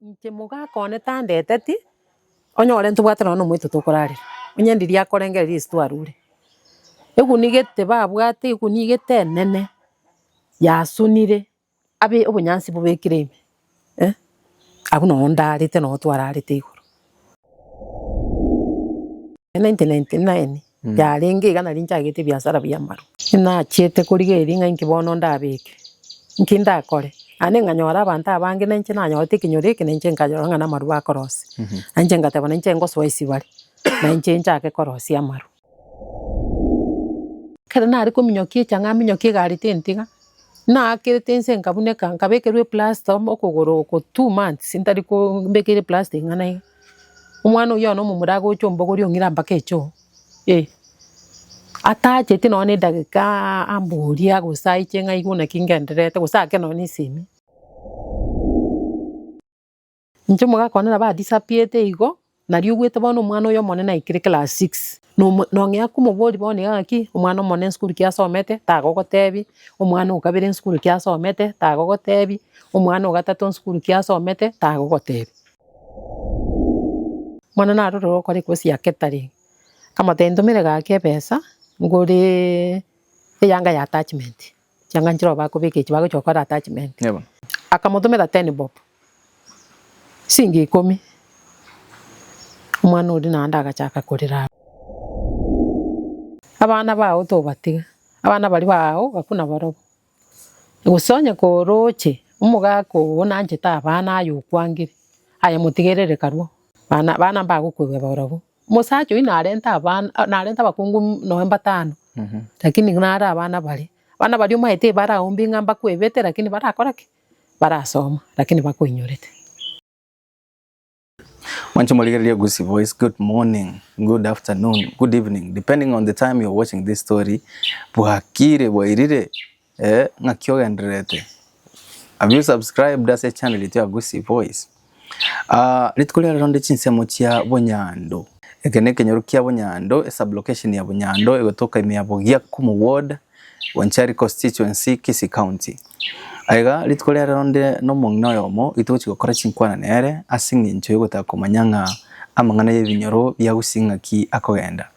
Inche mogaka one tandeteti, onye ore ntobwate nonya na omoito tokorarera, onye ndiria akorengereria ase twarure, egunia egete babwate egunia egete enene, yasunire, abe obonyansi bobekire ime, eh, abwo noyo ndarete noyo twararete igoro. 1999 yarenge iga nario nchagete ebiasara bia amaru. Nachiete korigereria ng'a inki bono ndabeke, inki ndakore, naende nkanyora abanto abange na inche nanyorete ekenyoro eke na inche nkanyora ng'a namaru bakorosia. Na inche nkateba na inche nkosoa esibari, na inche nchake korosia amaru. Ekero nare kominyokia echaanga aminyokie egari tintiga, naakerete inse nkabuneka, nkabekerwa eplasta okogoro oko two months ntari ko mbekeire eplasta eng'ana iga. Omwana oyio bono omomura agocha ombogoria ong'ira mpaka echoo, eh. Atacheti nonya na edageka amboria gose aiche ng'a aigwe naki ngendererete gose ake nonya na esemi. Inche mogakwana na ba disappear'd igo, nari obwete bono omwana oyo omonene aikire class six, nong'ea komoboria bono iga ng'aki omwana omonene esukuru ki asomete tagogotebi, omwana okabere esukuru ki asomete tagogotebi, omwana ogatato esukuru ki asomete tagogotebi. Bono narorire ogokora ecourse ya catering, akamotebia ntomere gaki ebesa ngore eyanga ya attachment. chiang'anchire obo bakobeka echi bagochia gokora attachment. Akamotomera ten bob, chingi ikomi, omwana oria naende agachaka korera abwo. Abana bao tobatiga, abana baria bao baku nabarobwo. Gose onye koroche omogaka oo nanchete abana aye okwangire, aye motigerere karue, abana mbagokwegwa barobwo. Omosacha oyio narente abana, narente abakungu nonya mbatano, lakini nare abana bare, abana baria omanyete tibaraumbi ng'a mbakwebete lakini barakora ki? barasoma lakini bakoinyorete. Mwanche morigererie Gusii Voice, good morning, good afternoon, good evening depending on the time you're watching this story, bwakire, bwairire, Eeh ng'aki ogendererete have you subscribed ase channel yaito ya Gusii voice aah rituko riarero onde chinsemo chia Bunyando eke ne ekenyoro kia Bunyando e sub location ya Bunyando egotoka ime ya Bogiakumu ward Bonchari constituency Kisii county aiga rituko riarero onde no omong'ina oyomo oito ogochi gokora chinkwana nere ase eng'encho ya ogotaka komanya ng'a amang'ana ya ebinyoro bia Gusii ng'aki akogenda.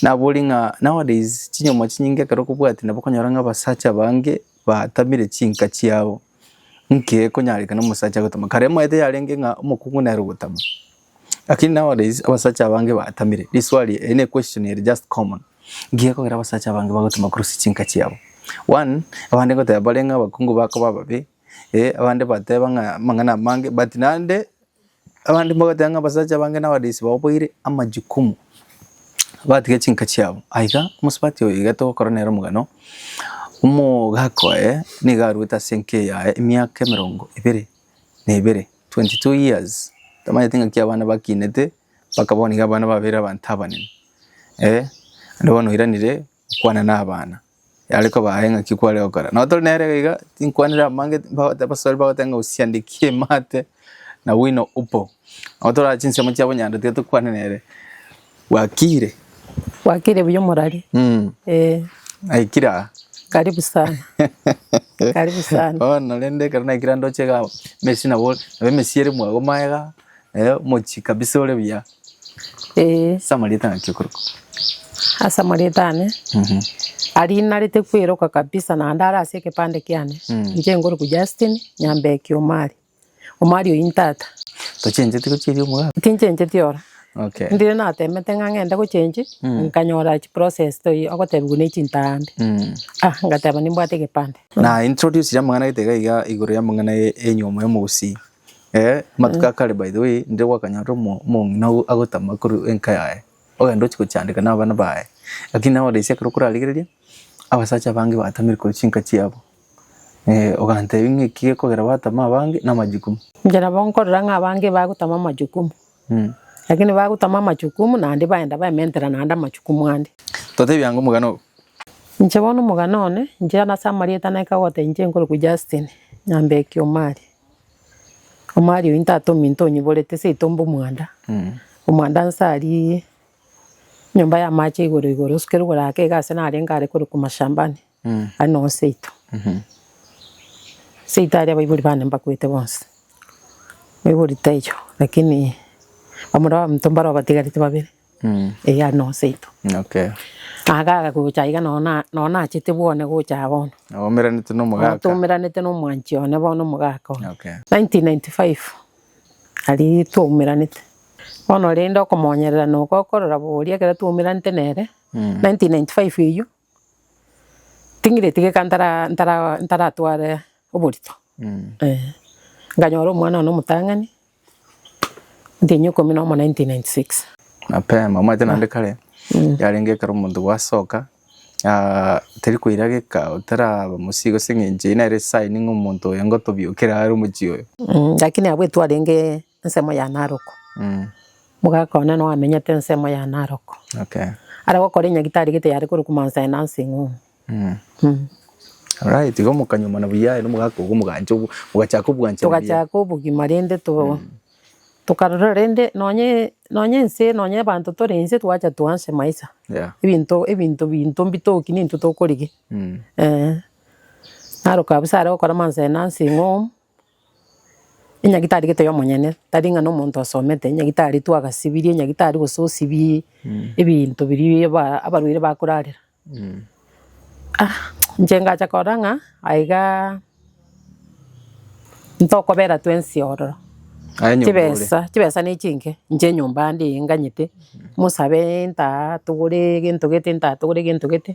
Naborie ng'a nowadays chinyoma chinyinge ekero okobwati nabo okonyora ng'a abasacha bange batamire chinka chiabo, nki ekonyarekana omosacha agotame? Kare omanyete yarenge ng'a omokungu nere ogotama, lakini nowadays abasacha abange batamire, riswali eri, eri ne equestion eri just common, nki ekogera abasacha abange bagotama korwa ase chinka chiabo? One, abande ngoteba bare ng'a abakungu bakoba ababe, abande bateba ng'a amang'ana amange but naende Abande mbagoteba ng'a abasacha abange nabarisi bababoire amajukumu, batiga chinka chiabo. Aye iga omosubati oyo iga togokora nere omogano, omogaka oye niga arwete ase enka eye yaye emiaka emerongo ebere na ebere, twenty two years. Tamanyeti ng'aki abana bakinete, mpaka bono iga abana babeire abanto abanene, eh. Naende bono oiranire. Okwana nabana yare kobae ng'aki kware gokora. Nabo tore nere iga iga tinkwanire abange bagote abasore bagote ng'a osiandekie emate na wino upo. Nabo tore chinsemo chia bonyanda tiga tokwane nere bwakire. Bwakire buya omorari eeh. Aikire aa. Karibu sana karibu sana. Bono rende ekero naikire ande oche igaa mesi nabo emesi ere mwago magega Eh, omochie kabisa ore buya. Ee, Ase amarieta naki okorokwa. ase amarieta ane Mhm. aria narete kweiroka kabisa naende are ase ekepande kiane Mm. inche nkorokwa Justine Nyambeki Omari Omari oyio ntata Tochenjeti gochieria omogaka. tinchencheti ora Okay. ndire natemete ng'a ng'ende gochenchi Mm. nkanyora chi process toi ogotebiwa ne chintambi Mm. ah ngateba nimbwate ekepande Na introduce amang'ana gete iga iga igoro y'amang'ana ye- y'enyiomo y'omogusii. Ee, amatuko a kare by the way, ndire gwakanyorire omo- omong'ina ogo agotama korwa enka yaye, ogenda ochia gochandeka na abana baye. Lakini naye orisia ekero okorarigereria, abasacha abange batamire korwa chinka chiabo, ogantebia ng'a eki gekogera batama abange na amajukumu. Inche nabo nkorora ng'a abange bagotama amajukumu, lakini bagotama amajukumu naende baenda baementera naende amajukumu ande. Totebie ango omogana ogo. Inche bono omogana one, inche nase amarieta naika gogotebia inche nkorokwa Justine, nyambeki Omari. Omwari oyio ntate ominto onyiborete seito mbe omwanda, omwanda nsarie nyomba y'amache igoro igoro osukere oborake iga ase narenge are korokwa mashambani are noo seito. Seito aria abaibori bane mbakwete bonsi, baibori taiyo lakini bamura baminto mbare obatigarete babere. eh are noyo seito. Okay. Agaga gocha iga noyo na noyo nachete bwone gocha aa bono. Omeranete na Noyo omogaka. twaumeranete na omwanchi one bono omogaka one. Okay. 1995 aria twaumeranete, bono rende okomonyerera na ogokorora boria ekero twaumeranete nere, 1995 eyio, ting'ira etigeka ntara ntara ntaratware oborito, eh. Nkanyora omwana one omotang'ani, Ntenyo ikomi nomo 1996. Mapema omanyete naende kare yarenge ekero omonto gwasoka ah teri koirageka otaraba mosii gose eng'encho eye nere sign ng'a omonto oyo ngotobiokera are omochie oyo. Lakini abwo etwarenge ensemo ya Narok omogaka one noamenyete ensemo ya Narok are gokora enyagitari gete yare korokwa Mount Sinai nursing home. Alright, igo mokanyuomana buya aye na omogaka ogo mogancha obo- mogachaka obwanchani buya. togachaka obogima rende to- tokarora rende nonye nonye ense nonye abanto tore ense twacha twanse maisha Yeah. ebinto ebinto binto mbitoki nintwe tokorigia Mm. eh. Naro kabisa are gokora amanse aye nursing home, enyagitari gete yo omonyene tari ng'a na omonto asomete, enyagitari twagasibirie, enyagitari gose osibie ebinto biria aba- abarwaire bakorarera. Inche ngacha kora ng'a aiga ntokobera twensi ororo, chibesa chibesa ne chinke, inche enyomba yande eye nganyete, mosabe ntaa togore egento gete ntaa togore egento gete,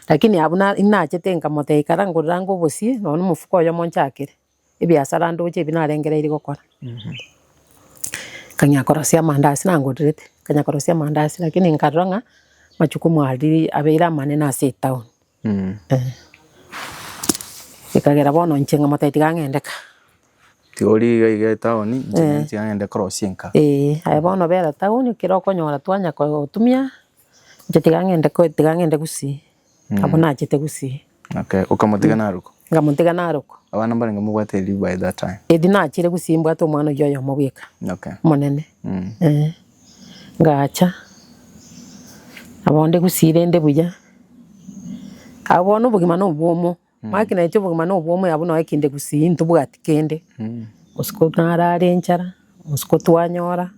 lakini abwo na- nachete nkamotebia ikara ngorere ango obosie, nonya na omofuko oyomo nchakere. ebiasara ndoche ebi narengereiri gokora. Nkang'ea korosia amandasi nangorerete, nkang'ea korosia amandasi lakini nkarora ng'a machukumu aria abeire amanene ase etown eh. Ekagera bono inche ng'a motari tiga ng'ende ka. Tiga orie iga iga etown inche ng'ende tiga ng'ende korosia enka. Eeh, aye bono bera town ekero okonyora twanya kotumia. Inche tiga ng'ende ko tiga ng'ende gusii, abwo nachete gusii. Okay, okamotiga naruko. Ngamotiga naruko. Abana mbarenge mobwate erio by that time. Erio nachire gusii mbwate omwana oyio oyomo bweka. Okay. Omonene. Mm. Eh. Ngacha. Abonde gusii rende buya. Abwo bono obogima nobwomo. Ng'aki nainche obogima na obwomo yabo noe kende gusii, intobwati kende. Botuko narare enchara, botuko twanyora,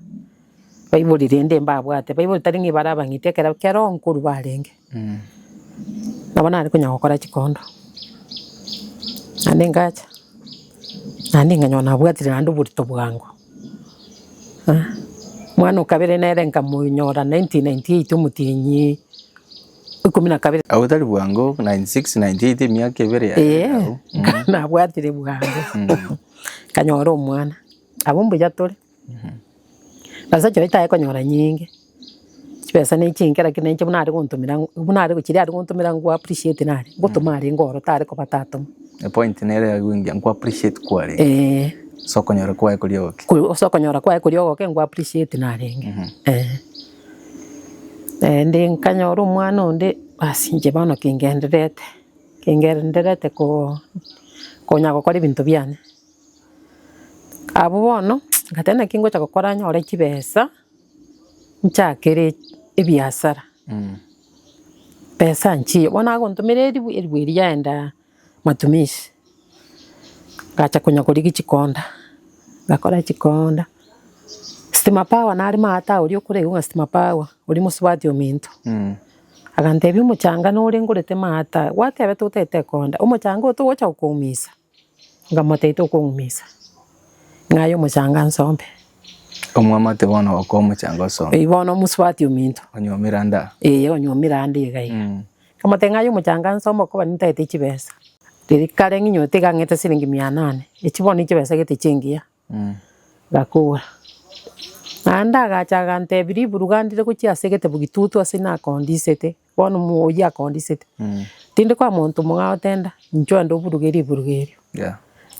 baibori rende mbabwate, baibori tari ng'a bare abang'iti ekero kero nkorwa barenge. Nabo nare konya gokora chikondo, naende ngacha, naende nkanyora nabwatire naende oborito bwango. Mwana o kabere nere nkamonyora nineteen ninety eight omotienyi. ikomi na kabere. Agwo tari bwango, 96, 98, emiaka ebere yaye Ee, agwo. Mm. nabwatire bwango kanyora omwana abo mbuya tore besa chio tae konyora nyinge chibesa ne chinke lakini inche buna are gontumira ng'u- buna are chiria are gontumira ngwa appreciate nare ngotuma are ngoro tare koba tatoma Epoint nere ya gwingia nku appreciate kware. eh So konyora kwaye kori ogoke. ku- ase okonyora kwaye koria ogoke ngwa appreciate narenge eh Naende nkanyora omwana onde baas inche bono kengendererete, kengendererete koo konya gokora ebinto biane. Abwo bono nkabwate naki ngocha gokora nyore chibesa, nchakere ebiasara, mh, mbesaa nchie, bono agontomera eribwa, eribwa eria yaenda. Matumizi, ngacha konya korigia chikonda, ngakora chikonda, stima power nare maate iga oria okoregwa ng'a stima power oria mosubati ominto, agantebia omochanga nore ngorete maate aya, gwateba totagete ekonda, omochanga oyo togocha gokoumisa? Nkamotebia tokoumisa, ng'aye omochanga nsombe. Omwamate bono okoa omochanga osombe. Eyi bono omosubati ominto. Onywa omira nda. Eeh onywa omira nda iga iga. Akamotebia ng'a aye omochanganso amo okoba nintaete chibesa. Riria kare ng'inyote iga ang'ete siringi mia nane, echio bono nchibesa gete chingiya. Gakogora. Naende agacha agantebia riburu iga ndire gochia ase egete bogitutu ase nakoondisete, bono mo- oyio akoondisete. Tindi koa monto mong'ao tenda, inchuo ande oburuge riburuga erio.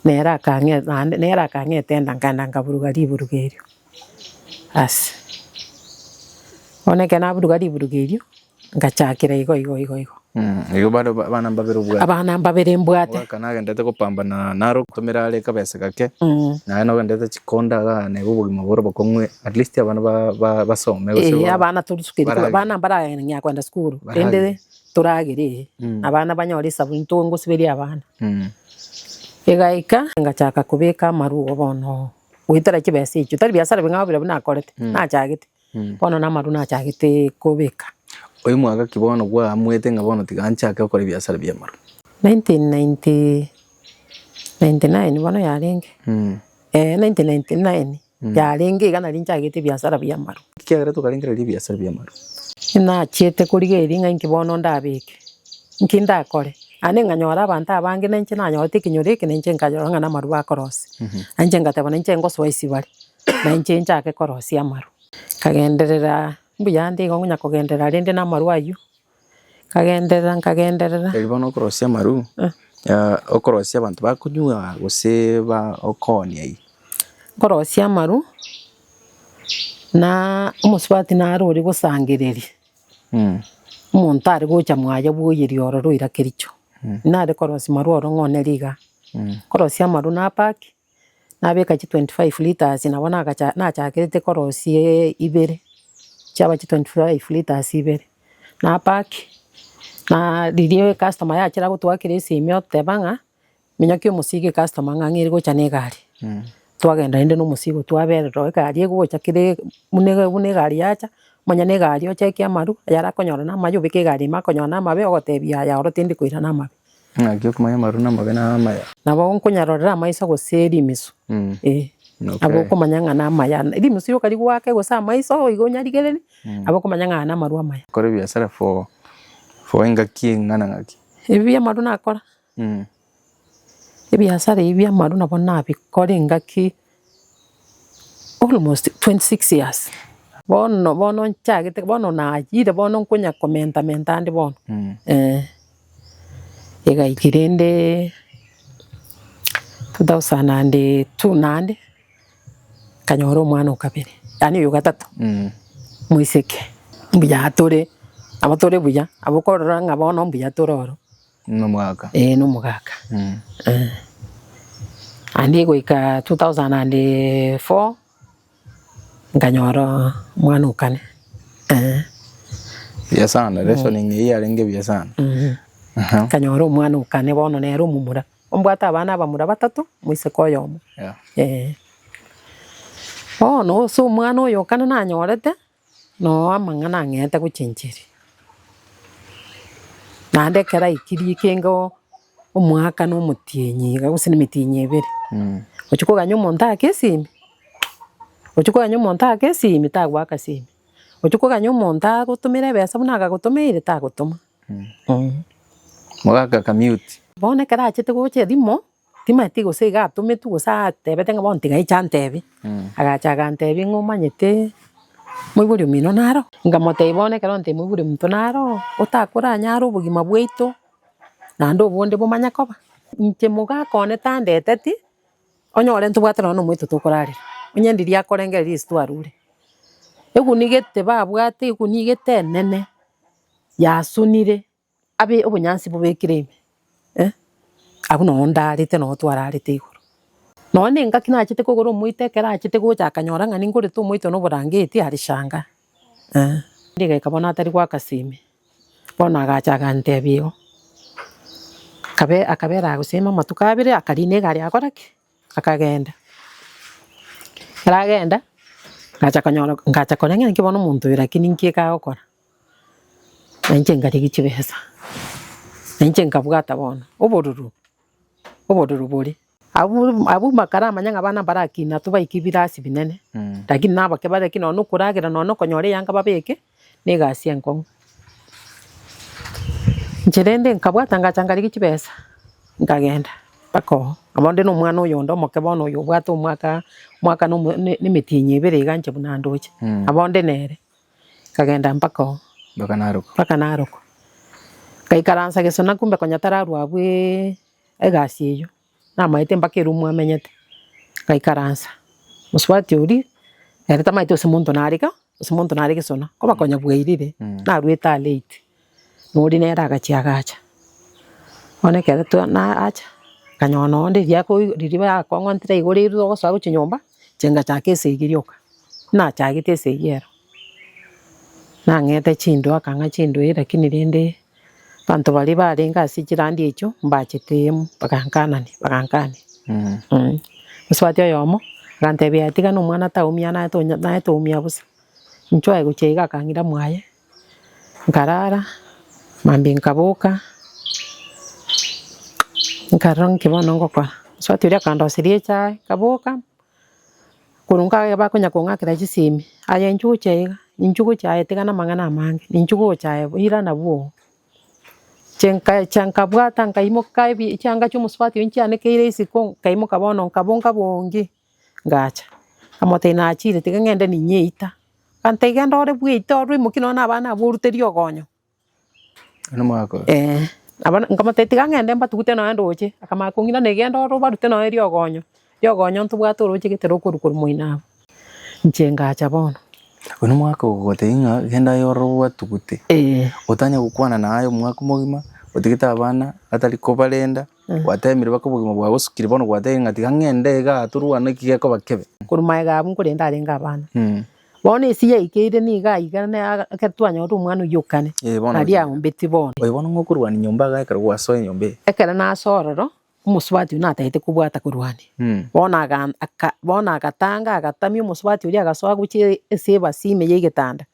Nere akang'e- naende nere akang'etenda nkagenda nkaburuga riburuga erio. Aase. Bono ekero naburuga riburugo erio, ngachakera igo igo igo igo. Igo bare abana mbabere obwate. Abana mbabere mbwate. Ogwekana agendete gopambana naro ogotomera are kabesa gake, naye nabo agendete chikonda igaa neba obogima bore obokong'u at least abana ba basome gose ba. Eeh abana torisukete korwa abana mbarang'aa kogenda sukuru rende toragere eeh. Abana banyore esabuni ntongosiberia abana. Egaika ngachaka kobeka amarwa bono goetera chibesa echio, tari biasara bing'ao biria nakorete, Mm. nachagete, Mm. bono na amarwa nachagete kobeka. Oyo mwaka ki bono gwaamwete ng'a bono tiga nchake gokora ebiasara bi'amarwa? 1990 99 bono yarenge, Mm. eh, 1999 Mm. yarenge iga nari nchagete ebiasara bi'amarwa. Nki kiagerete okarengereria ebiasara bi'amarwa? Nachiete korigereria ng'a inki bono ndabeke. Inki ndakore? Aye ninganyore abanto abange na inche nanyorete ekenyoro eke na inche nkarora ng'a namarwa akorosia. Na inche ngateba na inche ngosoa esibari, na inche nchake korosia amarwa. Nkagenderera mbuya ande igo ngonya kogenderera rende namarwa aywo, nkagenderera nkagenderera. Tari bono okorosia amarwa, okorosia abanto bakonywa gose ba okooni aywo? Nkorosia amarwa, na omosubati naro oria gosangereria. Omonto are gocha mwaya bw'oyeria oro roira Kericho, nare korosia marwa oro ng'a onere iga, korosia amarwa napack, nabeka chi twenty five litres nabo nagacha nachakerete korosia ibere, chiaba chi twenty five litres ibere, napack, na riria customer yachire agotwakera esimi oteba ng'a. Minyaki omosigo ecustomer ang'ang'eire gocha ne egari, twagenda rende na omosigo twaberera oo egari egocha kere buna e- buna egari yacha, manya na egari ocheke amaru, ayare akonyora na amayo obeke egari ime akonyora na amabe ogotebi yaya oro tindi koira na amabe. Ng'aki okomanya amaru na amabe naro amaya. Nabo nkonyarorera amaiso gose rimisu, eh. Nabo okomanya ng'a na amaya, rimisu rioka rigoake gose amaiso igo onyarigereri, nabo okomanya ng'a aya namaru amaya. Kore ebiasara for for engaki eng'ana ng'aki? Ebi amaru nakora, Ebiasara ebi bi'amaaru nabo nabikore engaki almost twenty six years, bono bono nchagete bono nayire bono nkonya komenta menta ande bono eh. Iga eke rende two thousand and two naende, nkanyora omwana o kabere, yaani oyo ogatato, moiseke, mbuya tore, nabo tore buya, nabo okorora ng'a bono mbuya tore oro. Nomogaka. Eh nomogaka. Mm. Eh. Andi goika 2004 nkanyora mwana okane. Eh. Bia sana, mm. reasoning hii arenge bia sana. Mm. Uh-huh. Kanyora omwana okane bono nere omumura. Ombwata abana abamura batatu, moiseke oyomo. Yeah. Eh. Bono ose omwana oyo okane nanyorete. Noo amang'ana ang'eete gochencheria, naende ekero aikirie kenge oo omwaka na omotienyi iga gose na emetienyi ebere, ochia koganya omonto ake esimi, ochia koganya omonto ake esimi tagoaka esimi, ochia koganya omonto agotomere ebesa buna agagotomeire tagotoma. Mogaaka ka mute. Bono ekero achete gocha erimo. Timati gose iga atometwe gose atebete ng'a bono tigaiche antebie, agacha agantebia ng'a omanyete moibori omino naro? Nkamotebia bono ekero nte moibori ominto naro, otakoranyare obogima bwaito naende obonde bomanye koba. Inche mogaka one tandeteti, onyore ntobwate nonya omonto tokorarera, onye ndiria akorengereria ase twarure, eguni gete babwate eguni gete enene yasunire. Abe obonyansi bobekire ime, eh, Agwo noo ndaarete noo twararete igoro. Noo nengaki nachete kogora omoito ekero achete gocha akanyora ng'a ningorete omoito na oborangeti are shanga, eh. Rigeka bono atari goaka sime, bono agacha agantebia igo. Akabe, akabera agosima amatuko abere, akarina egari agakora ki? Akagenda. Ekero agenda, agacha konyora, ngacha koria ng'a naki bono omonto oyo lakini nki ekagokora? Na inche nkarigia chibesa, na inche nkabwata bono obororo, obororo bore. Abwo bakaramanya ng'a abana mbarakina ase baike ebirasi binene, lakini nabo ake bare nonye na okoragera, nonye na okonyora eyanga babeke na egasi enkong'u. Inche rende nkabwata ngacha nkarigia chibesa, nkagenda mpaka oo. Nabo onde na omwana oyonde omoke bono oyo obwate omwaka, omwaka na emetienyi ebere iga inche buna ndoche, nabo onde nere. Nkagenda mpaka oo. Mpaka narokwa. Mpaka narokwa. Ngaikaransa gesona kumbe konya tararwa abwo egasi eyio. Namaete mpaka eroom amenyete. Ngaikaransa. Mosubati oria, ere tamaete gose monto nare ka, gose monto nare gesona. Koba konya bwairire, narwete are late. Nori nere agachia agacha, bono ekero twa nacha, akanyora nonya onde riria ako ririba yakong'ontire igoro erwe ogosoa gochia nyomba, inche ngachaka esegi rioka, nachagete esegi ero, nang'ete chindoo akang'a chindwei lakini rende abanto baria barenge ase chirandi echio mbachete emo, bagankanania bagankania eh. Osubati oyomo, agantebia yaya tiga nomwana taumia naye tonya naye toumia bosa, inchuo aye gochia iga akang'ira mwaye. nkarara, mambia nkaboka, nkarora nki bono ngokora. Mosubati oria akandoseria echae, nkaboka, korwa nkaye bakonya kong'akera chisemi, aye inche ogochia iga, inche ogochia aye tigana amang'ana amange, ninche ogocha aye ira nabwo oo. Inche nkacha nkabwata nkaimoka ebi chianga chia omosubati oyio nchianekeire isiko, nkaimoka bono nkabonga bongi. ngacha. Nkamotebia nachire tiga ng'ende ninye eita. Akantebia genda ore bwa eita orwe imokia nonya na abana abwo oruterie ogonyo. Eeh. Nkamotebia tiga ng'ende mbatugute nonya ndoche. Akamanya kong'ina na genda ore obarute nonya riogonyo. Riogonyo ntobwate oroche gete rokorwa korwa moino abwo. Inche ngacha bono. Oyio omwaka ogogotebia ng'a genda aye ororo obatugute. Otanye gokwana naye omwaka omogima otigete abana batari kobarenda. Gwateemire bake obogima bwaye bosukire, bono gwateba ng'a tiga ng'ende igaa torwane ki gekoba kebe. Korwa magega abwo nkorende arenge abana. Bono esi yaikeire niga iga ekero twanyorire omwana oyio o kane, nario aombetie bono. Oyo bono ng'okorwania nyomba iga ekero gwasoa enyomba eye. Ekero nasoa ororo, omosubati oyio natagete kobwata korwania. Bono aka, bono agatanga agatamia omosubati oria agasoa gochia ase ebasi ime ya egetanda,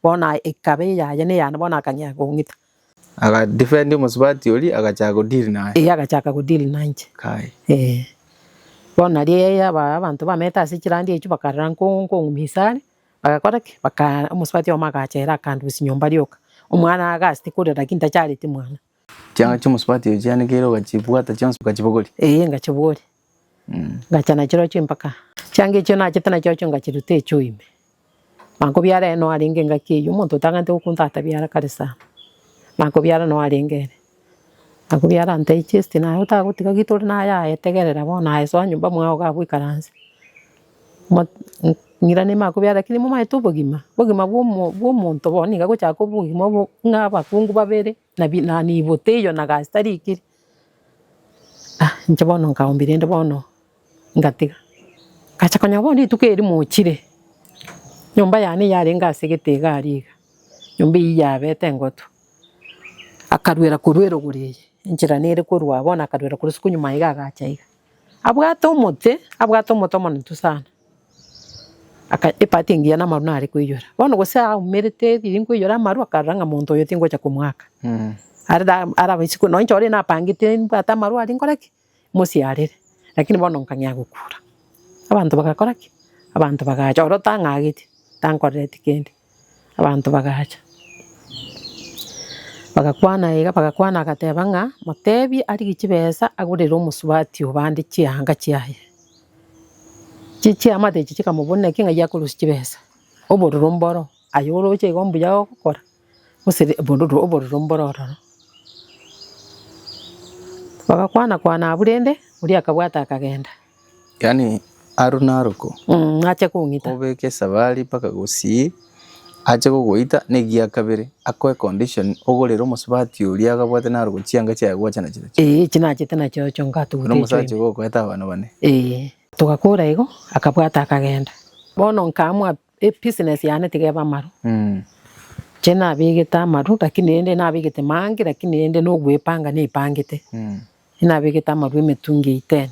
bono ekaba eyaye na eyane bono akang'ea kong'ita. Aga defend omosubati oria agachaka go deal naye. Ee agachaka go deal nainche. Kai. Ee. Bono nario aba abanto bamete ase chirandi echio bakarora nko nkong'umia ase are, bagakora ki? Baka omosubati oyomo agacha ere akandusia nyomba rioka. Omwana agasti korera lakini tachareti mwana. Chianga chiomosubati oyo chianekeire ogachibwata chionsi okachibogoria. Ee ngachibogoria. ngacha nachirochio empaka. Chianga echio nachete nachirochio ngachiruta echio ime. Nakobiara ere noo arenge engaki eyio, omonto otagante gokunta atabiara kare sana. Nakobiara noo arenge ere. Nakobiara nta echesti naye otagotiga gita ore naye aye tegerera bono aye soa nyomba mwao iga abwo ikaranse. Ng'ira nime akobiara lakini momaete obogima, obogima bwa omonto bono niga agochaka kobua obogima obo ng'a abakungu babere. Nabi na nibo teiyo na gasi tari ikiri ah inche bono nkaombire inde bono ngatiga. Ngacha konyora bono rituko eri mochire nyomba yane yarenge ase egete egari iga nyomba eyio yabete engotu. Akarwera korwa erogoro eye enchera nere korwa bono akarwera korwa isiko nyuma iga agacha iga. Abwate omote abwate omote omononto sana. Aka epati engiya namaru nare koiyora. Bono gose aumerete riria nkoiyora amaru akarora ng'a monto oyo tingocha komoaka. Are da arabe isiko nonye inche ore napangete nibwate amaru aria nkore ki? Mosiarere. Lakini bono nkang'ea gokura. Abanto bagakora ki? Abanto bagacha. Oro tang'ageti, tankorereti kende. Abanto bagacha, bagakwana iga, bagakwana agateba ng'a, motebie arigie chibesa agorere omosubati oo bande chianga chiaye. Chie chiamate echio chikamobuna ki? Ng'ai akorosie chibesa, obororo mboro, aye oroche igo mbuya ogokora, gose ri- obororo obororo mboro ororo. Bagakwana kwana abwo rende, oria akabwata akagenda. Yaani aro naroko Mm, ache kong'ita. obeke esabari mpaka gusii ache gogoita negiya kabere akoe condition ogorere omosubati oria agabwate naroko chianga chiaye gwacha nachiria chio Eh, echi nachete nachiocho na ngatuguteichwe. omosacha ogokoeta abana bane Eh, togakora igo, akabwata akagenda. Bono nkaamwa Ebusiness yane tiga ebe amaru. Inche nabegete amaru lakini rende nabegete mange lakini rende na ogwepanga nepangete. Nabegete amaru emetungi eyio ten.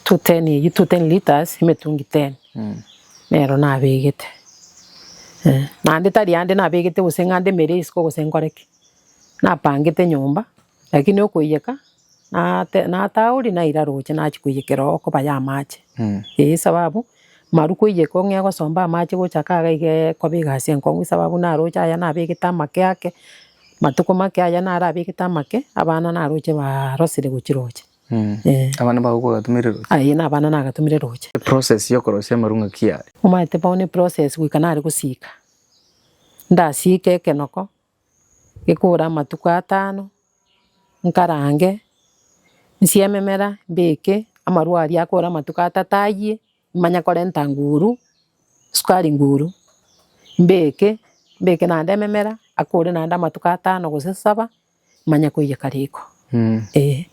Two ten eyio two ten litres emetungi ten nero nabegete. Naende tari ande nabegete gose ng'ande emere isiko gose nkore ki. Napangete nyomba lakini okoiyeka. Nate natauri naira roche nachia koiyekera oo koba y'amache, eyio esababu maru koiyeka ong'ee gosomba amache gocha kaa iga iga ee koba egasi enkong'u esababu naroche aya nabegete amake ake, matuko make aya naro abegete amake, abana naroche barosire gochia roche eh. Abana bao bagatumire roche? Aye na abana nagatumire roche. Eprocess ya okorosia amaru ng'aki are? Omanyete bono eprocess goika nare gosiika, ndasiike ekenoko, Gekobora amatuko atano, nkarange, nsie ememera, mbeke amarwa aria akore amatuko atato ayie, nimanye korenta nguru, sukari nguru, mbeke, mbeke naende ememera, akore naende amatuko atano gose saba, manye koiyeka riko, eh.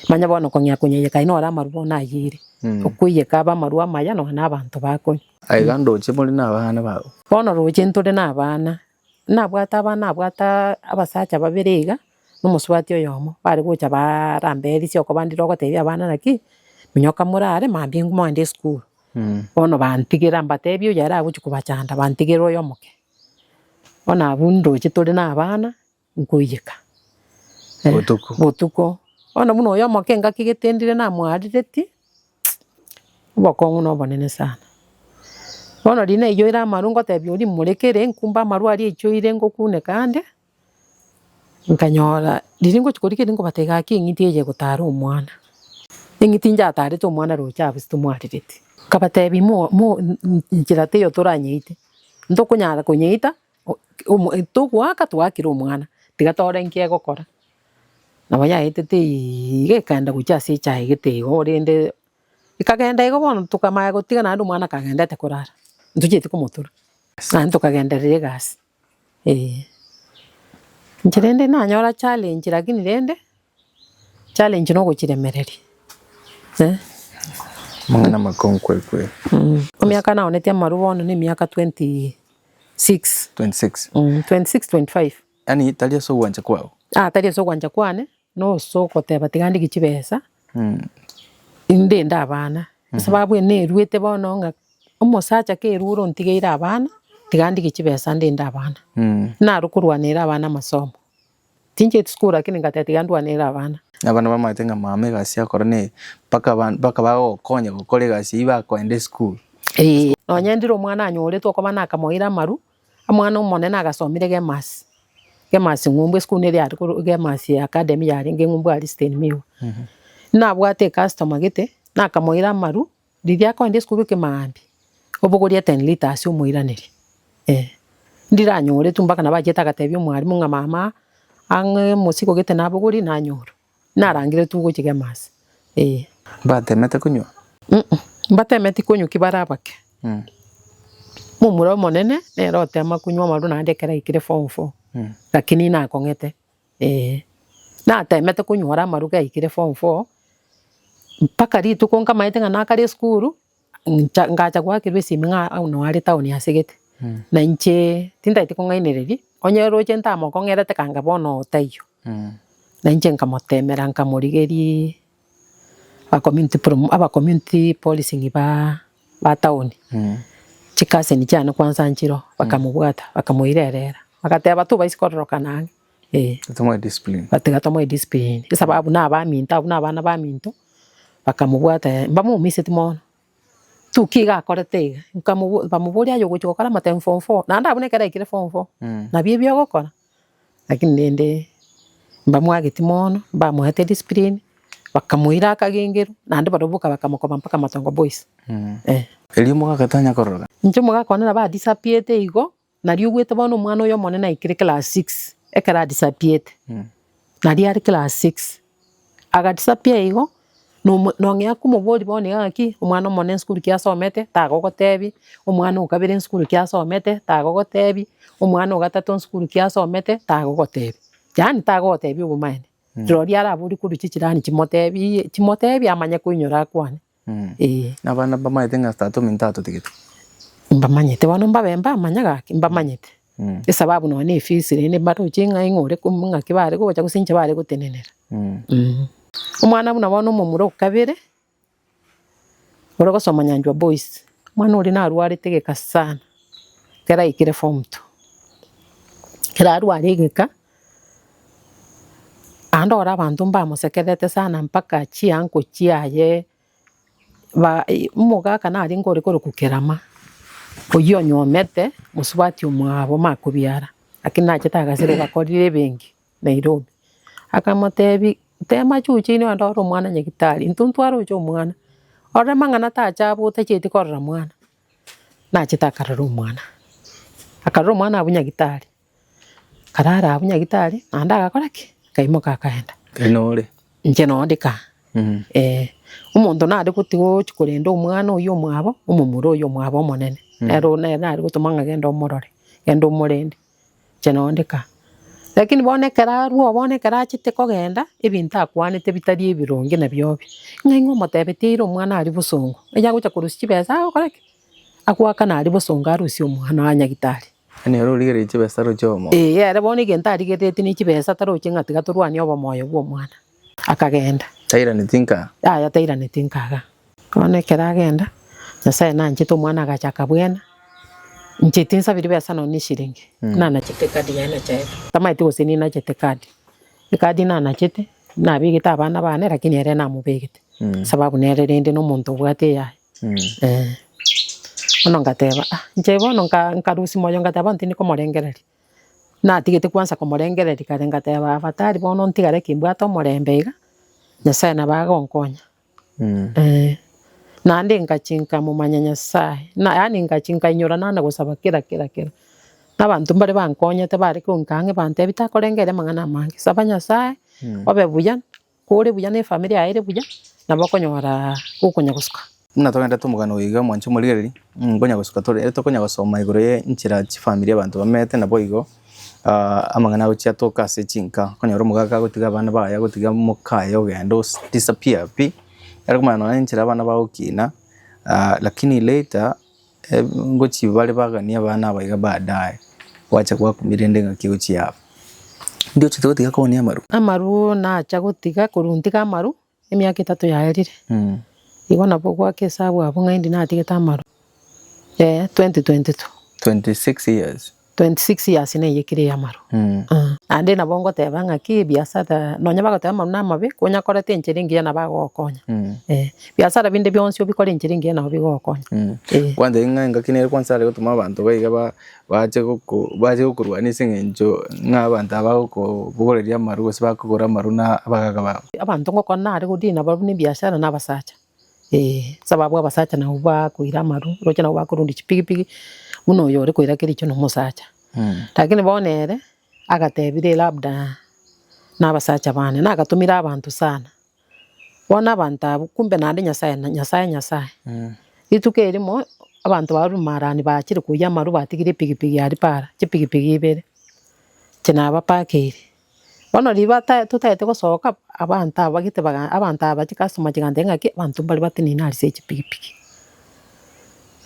Manye bono okong'ea konyeiyeka aye nore amarwa bono ayiire, okoiyeka abe amarwa amaya nonye na abanto bakonywa. Aiga ndoche more nabana bago. Bono roche ntore nabana. nabwate abana nabwate abasacha babere iga, na omosubati oyomo, bare gocha baara amba erisi okoba ndire ogotebia abana naki, minyoka morare mambia inwe moende esukuru. Bono bantigera mbatebi oyo are agochi kobachanda bantigera oyo omoke. Bono abwo ndoche tore na abana, nkoiyeka. Botuko. Botuko. Bono buna oyo omoke ngakigete ndire namwarereti. Obokong'u nobonene sana. Bono riria naiyoire amaru ngotebia oria morekere nkumbe amaru aria aichoire ngokuneka ande, nkanyora riria ngochia korika erio nkobata egaki eng'iti eye egotara omwana. Eng'iti njatarete omwana roche abwo ase tomwarereti. Nkabatebia mo mo nchera teiyo toranyeite, ntokonyara konyeita. O- omo- e, Togoaka twaakire omwana, tiga tore inki egokora. Nabo yaetete iga ekaenda gochia ase echaegete igo rende ekagenda igo bono tokamanya gotiga naende omwana akagendete korara ntochieti komotura naende tokagenderera egasi eh. Inche rende nanyora challenge lakini rende. Challenge no gochiremereria eh. Amang'ana amakongu kweri kweri. Emiaka naonetie amarwa bono ne emiaka 26. 26. Mm, 26, 25. Yaani tari ase ogwancha kwao. Ah, tari ase ogwancha kwane, noso ogoteba tiga ndege chibesa. Mm. Ndende abana. Sababu ene neruete bono ng'a omosacha kerua ore ontigeire abana, tiga ndege chibesa ndende abana. Mm. Naro korwanera abana amasomo. Tincheti sukuru lakini ngateba tiga ndwanere abana. Abana bamaete ng'a mama egasi yakora neye mpaka mpaka bagokonya gokora egasi eyio bakoenda esukuru. Ee, nonya ndire omwana anyoretwe okoba nakamoira amaru, omwana omonene agasomire Gemasi, Gemasi Ng'umbu, esukuru neria yare korwa Gemasi Academy yarenge Ng'umbu Aristine Miwa. Nabwate ecustomer gete, nakamoira amaru, Riria akoenda esiko gekemambia, obogorie ten lita ase omoiraneria, eh, ndiranyore tu mpaka nabo achiete agatebia omwarimu ng'a mama ang'e mosigo gete nabogorie nanyora, narangire tu gochigema ase, eh. Mbatemete konywa? Uh-uh, mbatemeti konywa ki bare abake. Momura omonene nere otema konywa amarwa naende ekero aikire form four, lakini inakong'ete. Ee, natemete konyora amaruga aikire form four, mpaka rituko nkamaete ng'a nakare esukuru, ncha ngacha goakerwa esimi ng'a nonya are town ase gete, na inche tintagete kong'ainereria, onye roche ntamokong'erete kanga bono oo taiyo. Na inche nkamotemera nkamorigeria. Aba community policing ba town, chikaseni chiane kwansa nchiroo, bakamobwata, bakamoirerera, bagateba tobaisi kororokana ang'e, eh. Tiga tomoe discipline, esababu na abaminto, abwo na abana baminto, bakamobwata eh, mbamoumeseti mono, tu ki iga akorete iga, bamobori aye ogochi gokora amatemi form four, naende abwo nekero aikire form four, nabio ebi ogokora. Lakini rende mbamwageti mono, mbamoete discipline, bakamoira akagengeru, naende baroboka bakamokoba mpaka matongo boys eh. Erio omogaka tanya kororoka. Inche omogaka one nabo adisappearete igo, nario ogwete bono omwana oyo omonene aikire class six, ekero adisappearete, naria are class six. Agatisa pi eigo, nomo nong'ea komobori bono iga ng'aki, omwana omonene esukuru ki asomete, tagogotebi, omwana o kabere esukuru ki asomete, tagogotebi, omwana o gatato esukuru ki asomete, tagogotebi. Yaani tagogotebi obomaene. Rirorio araborie korwa chichirani chimotebiiye, chimotebi amanye koinyora akwane. Nabana mbamanyete ng'a Tata ominto atotagete. Mbamanyete, bono mbabe mbamanya gaki, mbamanyete, esababu nonya ne efeesi rende mbaroche ng'a ing'o ore komi, ng'aki bare gocha gose inche bare gotenenera. Omwana buna bono omomura o kabere, ore gosoma Nyanchwa Boys, omwana oria narwarete egeka sana, ekero aikire form two. Ekero arware egeka. Naende ore abanto mbamosekerete sana mpaka chiango chiaye, omogaka narenge ore korokwa kerama, oyio onyomete mosubati omwabo omare kobiara, lakini nachete agasira ogakorire ebenki Nairobi. Akamotebi tema chuche inwe naende ore omwana nyagitari, intwe ntware ocha omwana, ore mang'ana tacha abwo otacheti korora mwana, nachete akarora omwana, akarora omwana abwo nyagitari. Karara abwo nyagitari, naende agakora ki? Akaimoka akaenda. Tari nore. Inche noo ndika. Mm. Eh, omonto nare goti gochi korenda omwana oyio omwabo, omomura oyio omwabo omonene. Mm. Nere oyio nere nare gotoma ng'a genda omorore, genda omorende. Inche noo ndika. Lakini bono ekero arwoo bono ekero achete kogenda, ebinto akwanete bitari ebironge na biobe. Ng'a ing'o omotebetie eira omwana aria bosongo, eyagocha korusia chibesa agokora ki? Agoakana aria bosongo arusie omwana oye nyagitari. Yaani oro origereire chibesa roche obomoyo. Ee, ere bono egento arigereretie ne chibesa taroche ng'a tiga torwanie obomoyo bw'omwana. Akagenda. Tairaneti nka. Yaya tairaneti nkaga. Bono ekero agenda, Nyasaye nanchete omwana agacha akabwena, Inche tinsabiri besa nonya neshiringi, nanachete ekadi yaye nachaete. Tamaeti gose ninachete ekadi. Ekadi nanachete, nabegete abana bane, lakini ere namobegete, sababu nere rende nomonto obwate eyaye. eh. Bono ngateba ah, inche bono nka- nkarusia moyo ngateba bono tindi komorengereria, natigete kwansa komorengereria kare ngateba afatari bono ntigare ki mbwate omorembe iga, Nyasaye nabo agonkonya, eh. Naende ngachia nkamomanya Nyasaye, na yaani ngachia nkainyora nande gosaba kera kera kera, na abanto mbare bankonyete bare koinka ang'e bantebi takorengereria amang'ana amange, saba Nyasaye, obe buya. Kore buya ne efamiri yaye ere buya, nabo okonyora okonya gosuka. Buna togenda tomogana oyo iga mwanche omorigereria, nkonya gosuka tore, ere tokonya gosoma igoro ye enchera chifamiri abanto bamenyete nabo igo, amang'ana agochia atoke ase chinka, okonyora omogaka agotiga abana baye, agotiga mokaye ogenda o disappear pi, aria komanya nonye enchera abana bagokina, lakini later. Eeh ngochia bare baganie abana aba iga baadaye gwacha gwakumire rende ng'aki gochia aba. Ndio ochete gotiga kooni amaru? Amaru nacha gotiga korwa ntige amaru emiaka etato yaerire. Igo nabwo gwaka esabu abwo ng'aindi natigete amaru. Eeh 2022. 26 years. 26 years neye ekire eyamaro naende nabo ngoteba ng'aki ebiasara nonya bagoteba amaru namabe konyakorete enchera engiya nabo agogokonya eh ebiasara binde bionsi obikore enchera engiya nabo bigogokonya eh. Kwanza ere ng'a engaki nere kwansa are gotuma abanto ba iga ba bache goko bache gokorwania ase eng'encho ng'a abanto aba bagokobogoreria amaru gose bakogora amaru na abagaaka babo. Abanto ngokora nare godina barabwo nebiasara na abasacha. Ee, saba abwo abasacha nabo bakoira amaru, roche nabo bakorundia chipigipigi, buna oyo ore koira kericho na omosacha. Lakini bono ere, agatebire labda na abasacha bane, na agatomire abanto sana. Bono abanto abwo, kumbe naende Nyasae na Nyasae Nyasae. Rituko erimo, abanto baria rumarani bachire koyia amaru batigire epigipigi aria para, chipigipigi ibere, inche nabapakeire. Bono riba ta totagete gosoka, abanto aba bagete baga abanto aba chicustomer chigantebia ng'aki abanto mbare batenena ase echipikipiki,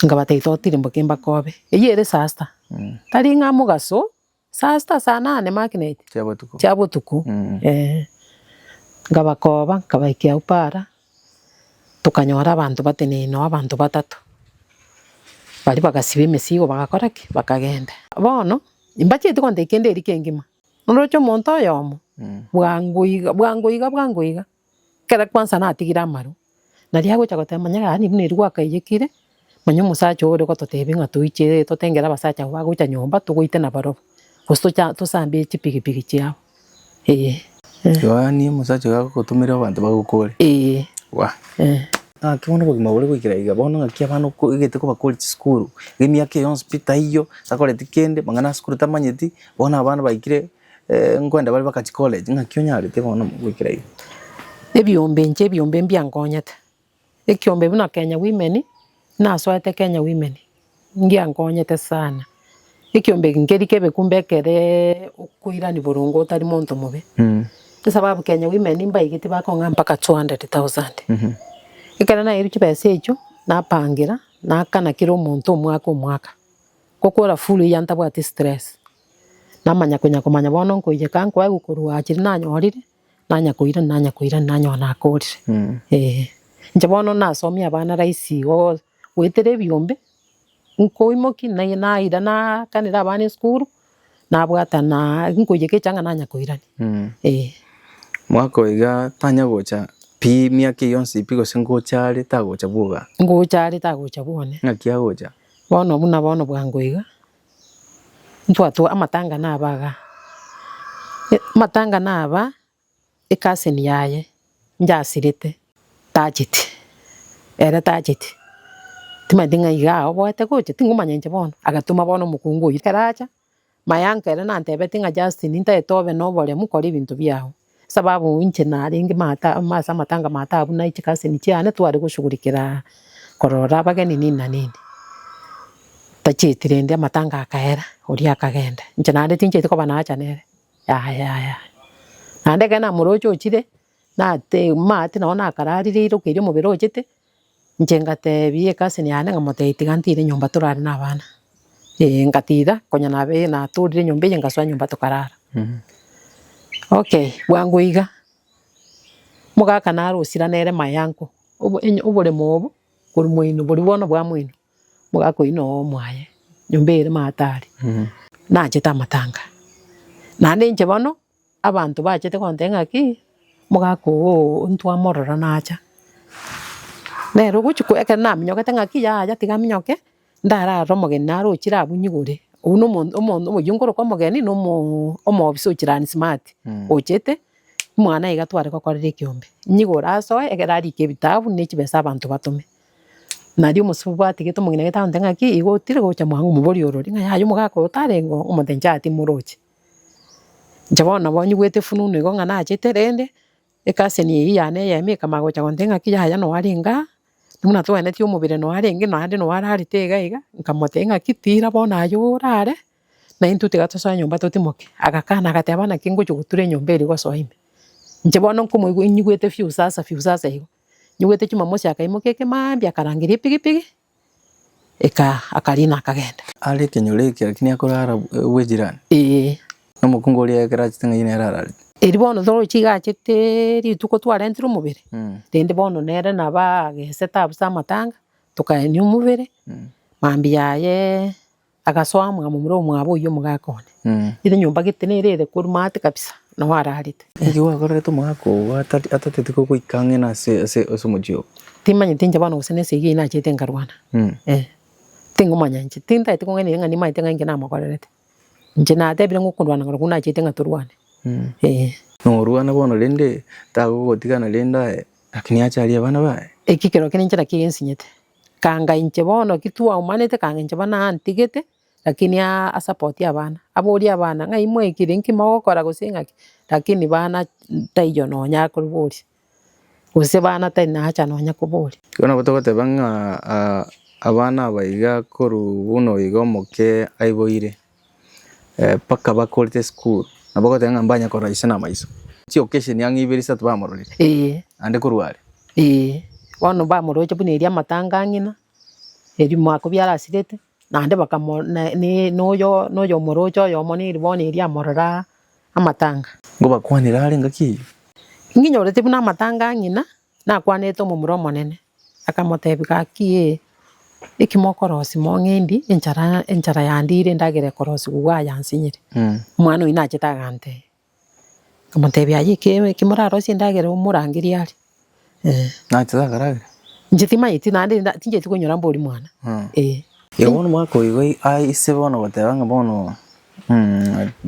nkabata totiri mboka mbakobe, eyio ere saa sita, tari ng'a mogaso, saa sita, saa nane maki naiti, Chia botuko. chia botuko, eeh. Nkabakoba, nkabaikera Upara, tokanyora abanto batenena noo abanto batato, baria bagasiba emesigo bagakora ki? Bakagenda. Bono, mbacheti kontebia kende eria kengima, Noroche omonto oyomo, bwango iga, bwango iga, bwango iga, ekero kwansa natigire amaru, naria agocha goteba manya yaani buna eri gwakaiyekire, manya omosacha oyo ore gototebia ng'a toiche totengere abasacha abwo bagocha nyomba togoitana barobwo, gose tocha tosambe chipigipigi chiabo, eh. Yohani omosacha oyo agogotomeria abanto bagokore? Eh. Wa. Eh. Naki bono obogima bore goikera iga, bono ng'aki abana okoegete kobakore chisukuru, emiaka eye yonsi pi taiyo, takoreti kende, amang'ana asukuru tamanyeti. Bono abana baikire nkwenda bare bakachi college, ng'aki onyarete bono goikera iga? Ebiombe inche ebiombe mbiankonyete, ekiombe buna Kenya Women, nasoete Kenya Women, ngiankonyete sana. Ekiombe eke nkeri kebe kumbe ekere okoirania boronge otari monto mobe. Esababu Kenya Women mbaigetie bakong'a mpaka two hundred thousand. Ekero naeirwe chibesa echio, napangera, naakana kera omonto omwaka omwaka. Ngokwora fulu eya ntabwati stress. Namanya konya komanya bono nkoiyeka nkoe gokorwa chiria nanyorire, nanya koirani nanya koirani nanyoa nakorire. Eeh. Inche bono nasomie abana rahisi igo goetera ebiombe, nkoimoki naira naira nakanera abana esukuru, nabwata na nkoiyeka echaanga nanya koirani. Eeh. Mwaka oyo iga tanya gocha pi miaka eye yonsi pi gose ngocha are tagocha bwoba? Ngocha are tagocha bwone. Naki agocha? Bono buna bono bwango iga, ntwatwa amatanga naba iga, amatanga naba ecousin yaye njasirete tacheti, ere tacheti, timanyeti ng'a iga aoboete gocha, tingomanya inche bono, agatoma bono omokungu oyio, ekero acha. Mayanka ere nantebetie ng'a Justin ntagete obe noboremu kora ebinto biao. Esababu inche narenge maate amo ase amatanga ma taabu na chicousin chiane tware goshugurikera korora abageni nini na nini. Tachieti rende amatanga akaera oria akagenda. Inche naende tinchieti koba naacha nere yaya yaya. Naende ekero namoroche ochire nate maate nao nakararire ira okeria omobere ochete. Inche ngateebia ecousin yane nkamotebia tiga ntide nyomba torare na abana, ee ngatida konya nabe natorire nyomba eye ngasoa nyomba tokarara. Okay bwango iga, omogaka nare osira nere mayango, obo- enyo- oboremo obo korwa moino boria bono bwa moino, omogaka oyio noyo omoaye, nyomba ere matari, nachete amatanga, naende inche bono. Abanto bachete gontebia ng'aki, omogaka oo ntwamorora nacha. Nere ogochi ko ekero naminyokete ng'aki yaya tiga minyoke, ndararore omogeni naro ochire abwo nyigure. Oyio no omonto omonto oyio nkoroka omogeni no omo- omobisa o chilani smart, ochete omwana iga tware gokorera ekeombe. Nyigure asoe ekero arike ebitabu ne chibesa abanto batome. Nario omosubwa atigete omong'ina agontebia ng'aki igo otire gocha mwango moborio orori ng'a yaya omogaka oo tarenge oo, omonto inche aa timoroche. Inche bono nabo nyigwete efununu igo ng'a nachete rende, ecousin eyio yane eyemo ekamanya gocha gontebia ng'aki yaya noo arenge aa, buna togwenereti omobere noo arenge naende noo ararete iga iga, nkamotebia ng'aki tira bono aye orare, na intwe tiga tosoe nyomba totimoke. Agakana agateba bono naki ngochia gotura enyomba eria gosoa ime. Inche bono nkomoigwa nyigwete fiu sasa fiu sasa igo. Nyigwete Jumamosi akaimoka ekemambia akarangeria epigipigi, Eka akariina akagenda. Are ekenyoro eke, lakini akore ara bw'ejirani. Ee. Na omokungu oria ekero achete ng'ai nere ararete. Erio bono toroche iga achete rituko twarentire omobere, rende bono nere nabo agesete abwo ase amatanga, tokaenia omobere, mambia aye. Agasoa amwamomire omwabo oyio omogaka one, ere nyomba gete nere ere korwa maate kabisa nao ararete. Inki gwakorerete omogaka ogo atateti gogoika ang'e na ase omochie ogo? Timanyeti inche bono gose nesegi eye nachete nkarwana. Ee. Tingomanya inche, tintaete kong'aina ng'a nimanyete ng'a inki namokorerete. Inche natebire ng'a okorwana ng'ora koria nachete ng'a torwane. Ee. Norwane bono rende, tagogotiga naende aye, lakini ache aria abana baye. Eki kerokio ninche nakio gesinyete. Kanga inche bono ki twaumanete kanga inche bono antigete lakini a support abana. Aborie abana ng'ai mwaikire nki mogokora gose ng'aki lakini bana taiyo nonya akoboria, gose bana tari na haja nonya koboria. Igo nabo togoteba ng'a abana aba iga korwa buna oigo omoke aiboire. Mpaka bakorire esukuru nabo ogoteba ng'a mbanye korora ise na amaiso. Chi occasion ang'e ibere isato bamororire. Eeh. Naende korwa are. Eeh. Bono bamoroche buna eria amatanga ang'e ng'ina, erio mwaka biarasirete, naende bakamo na ne noyo noyo omoroche oyomo neri bono eria amorora amatanga. Ngobakwanera are engaki eyio. Ng'inyorete buna amatanga ang'ina. Nakwanete omomura omonene, akamotebia, Gaki ee, eki mokorosi mong'endi, enchara enchara yandiire endagera ekorosi gokwa aa yansinyire. Omwana oyio nachete agantebia, akamotebia, Aye eke eke morarosie endagera omorangeria are. Eeh. Nachete akaragera. Inche timanyeti naende nda tincheti konyora mbori mwana. Eeh. Igo bono mwaka oigo ai aa ase bono goteba ng'a bono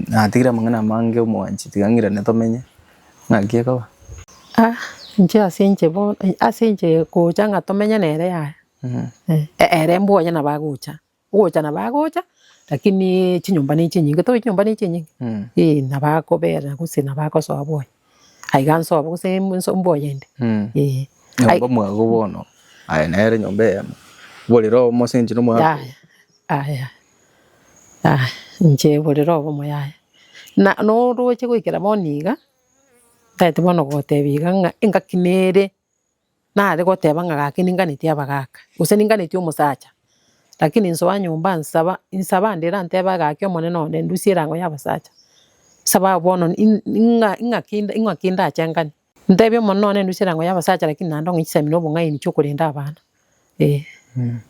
Natigire amang'ana amange omwanchi tiga ng'irane tomenye, ng'aki ekoba? Ah inche ase inche bono ase inche gocha ng'a tomenye nere yaya ere mbwa onye nabo agocha, ogocha nabo agocha lakini chinyomba ne chinyinge tobaeti chinyomba ne chinyinge? Nabo akobera gose nabo agosoa bono. Aiga nsobo gose inso mboyende. Eeh. Nyomba mwago bono, aye nere nyomba eyemo, borere obo mosenchiri nomwago. Yaya, yaya, yaya, inche borere obomo yaya. Na noroche goikera bono iga, ntaete bono goteba iga ng'a engaki nere. Nare goteba ng'a gaki ninganetie abagaka, gose ninganetie omosacha, lakini nsoa nyomba nsaba, insaba ande erantebe gaki Omonene one ndusie erango y'abasacha, nsaba aa bono in- ing'a- ing'aki nda- ing'aki ndache ngane. Ntebia Omonene one ndusie erango y'abasacha, lakini naende ong'e chisemi na obong'aini chi'okorenda abana. Ee,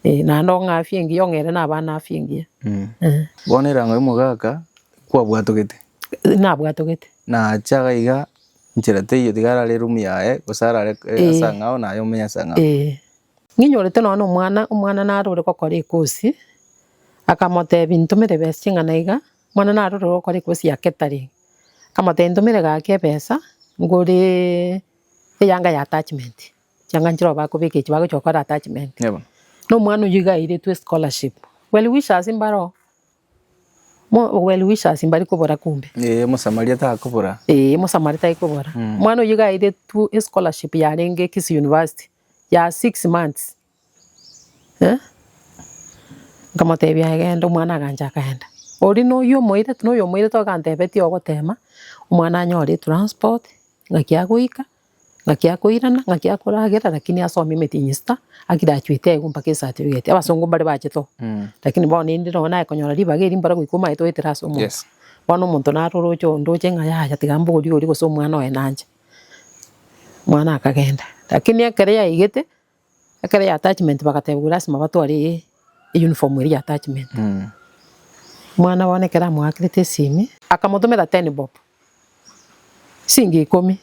ee, naende ong'afie engiya ong'ere nabana afie engiya. Ee, Bono erango y'omogaka kwabwatogete, nabwatogete. na ache iga iga nchera teiyo tiga arare eroom yaye, gose arare eh, Eh. ase ang'ao naye omenye ase ang'ao. Ee. Ng'inyorete nonya na omwana, omwana nare ore gokora ekosi, akamotebi ntomere ebesa ching'ana iga, omwana nare ore gokora ekosi ya catering, akamotebi ntomere gaki ebesa ngore eyanga ya attachment. chiang'anchire oba akobeka echi bagochia gokora attachment. Eeh bono. Na omwana oyio iga airetwe scholarship. Well wishers mbare oo. Mo well wishers mbari kobora kumbe. Eeh omosamaria takobora. Eeh omosamaria tai kobora. Omwana oyio iga airetwe scholarship yarenge Kisii University ya six months. Eeh nkamotebia genda omwana agancha akaenda. Oria na oyio omoirete na oyo omoirete ogantebetia ogotema omwana anyore transport ng'aki agoika. Ng'aki akoirana, ng'aki akoragera lakini asome emetienyi esita, agirachuete aye gompaka esatifigeti. Abasongo mbare bachete oo, lakini bono inde nonye nagekonyora ribaga erio mbare goika omanyete oetera ase omonto. Yes. Bono omonto naro oroche oo ndoche ng'a yaya tiga mbogori oria gose omwana oye nanche. Omwana akagenda, lakini ekero yaigete. Ekero ya attachment bagateba lasima batware eye uniform eria ya attachment. Omwana bono ekero amoakerete esimi. Akamotomera ten bob, chingi ikomi.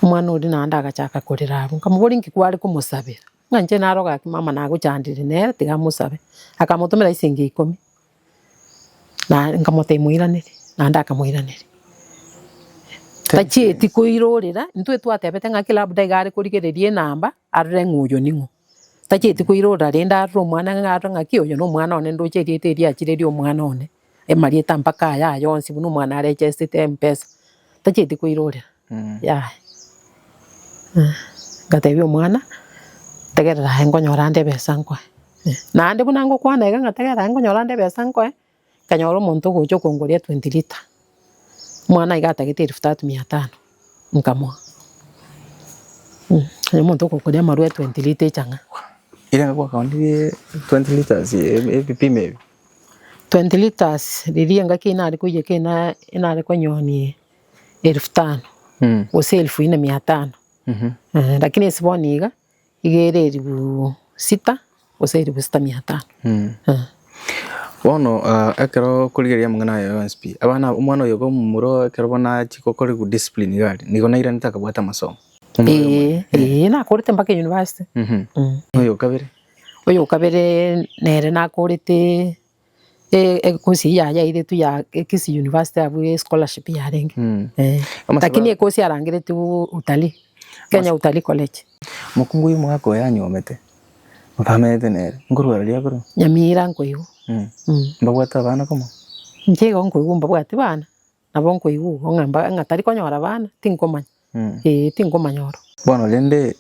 Omwana oria naende agachaka korera abwo. Nkamobori nki kware komosabera? Ng'a inche naroge aki mama nagochandire nere tiga amosabe. Akamotomera chingi ikomi. Na nkamotebia, Moiranerie? Naende akamoiraneria. Tachieti koirorera, intwe twatebete ng'aki labda iga arekorigereria enamba, arore ng'a oyo ning'o. Tachieti koirorera rende arore omwana ng'a arore ng'aki oyo nomwana one ndoche erieta eria achireria omwana one, amarieta mpaka aya yonsi buna omwana arechestete mpesa. Tachieti koirorera. Yaya. Ngatebia omwana, tegerera aye nkonyora ande ebesa nkoe. Naende buna ngokwana iga ng'a tegerera aye nkonyora ande ebesa nkoe, nkanyora omonto ogocha okongoria twenty liter. Omwana iga atagete elfu tatu mia tano, nkamoa. Oyo omonto okongoria amarwa e twenty liter echang'a. Twenty litres ebipimo ebi? Twenty litres riria engaki nare koiyeka inare konyonia. elifu tano, gose elifu ine mia tano, lakini esiboni iga, iga ere elifu sita, gose elifu sita mia tano. Bono ah, ekero okorigereria amang'ana aye yonsi pi, abana aba- omwana oyo iga omomura ekero bono achia gokora good discipline iga aria, nigo nairanete akabwata amasomo. Omwana oyo Ee, omonene. ee, nakorete mpaka university. Mhm. Mm. Oyo o kabere. Oyo o kabere nere nakorete. ekosi eyio yane yairetwe ya Kisii University abwo ya scholarship yarenge. Mm. Eh. Ama Lakini sababu- ekosi yarangeretwe u- utalii. Kenya Utalii College. Mokungu oyo omwaka oyo anyomete, mpamenete nere, nkorwa riria korwa, Nyamira nkoigwa. mm, Mm. mbabwate abana komo. Inche igo nkoigwa mbabwati bana. Nabo nkoigwa igo ng'a mba- ng'a tari konyora abana, tinkomanya, ee, tinkomanya oro. Bono rende,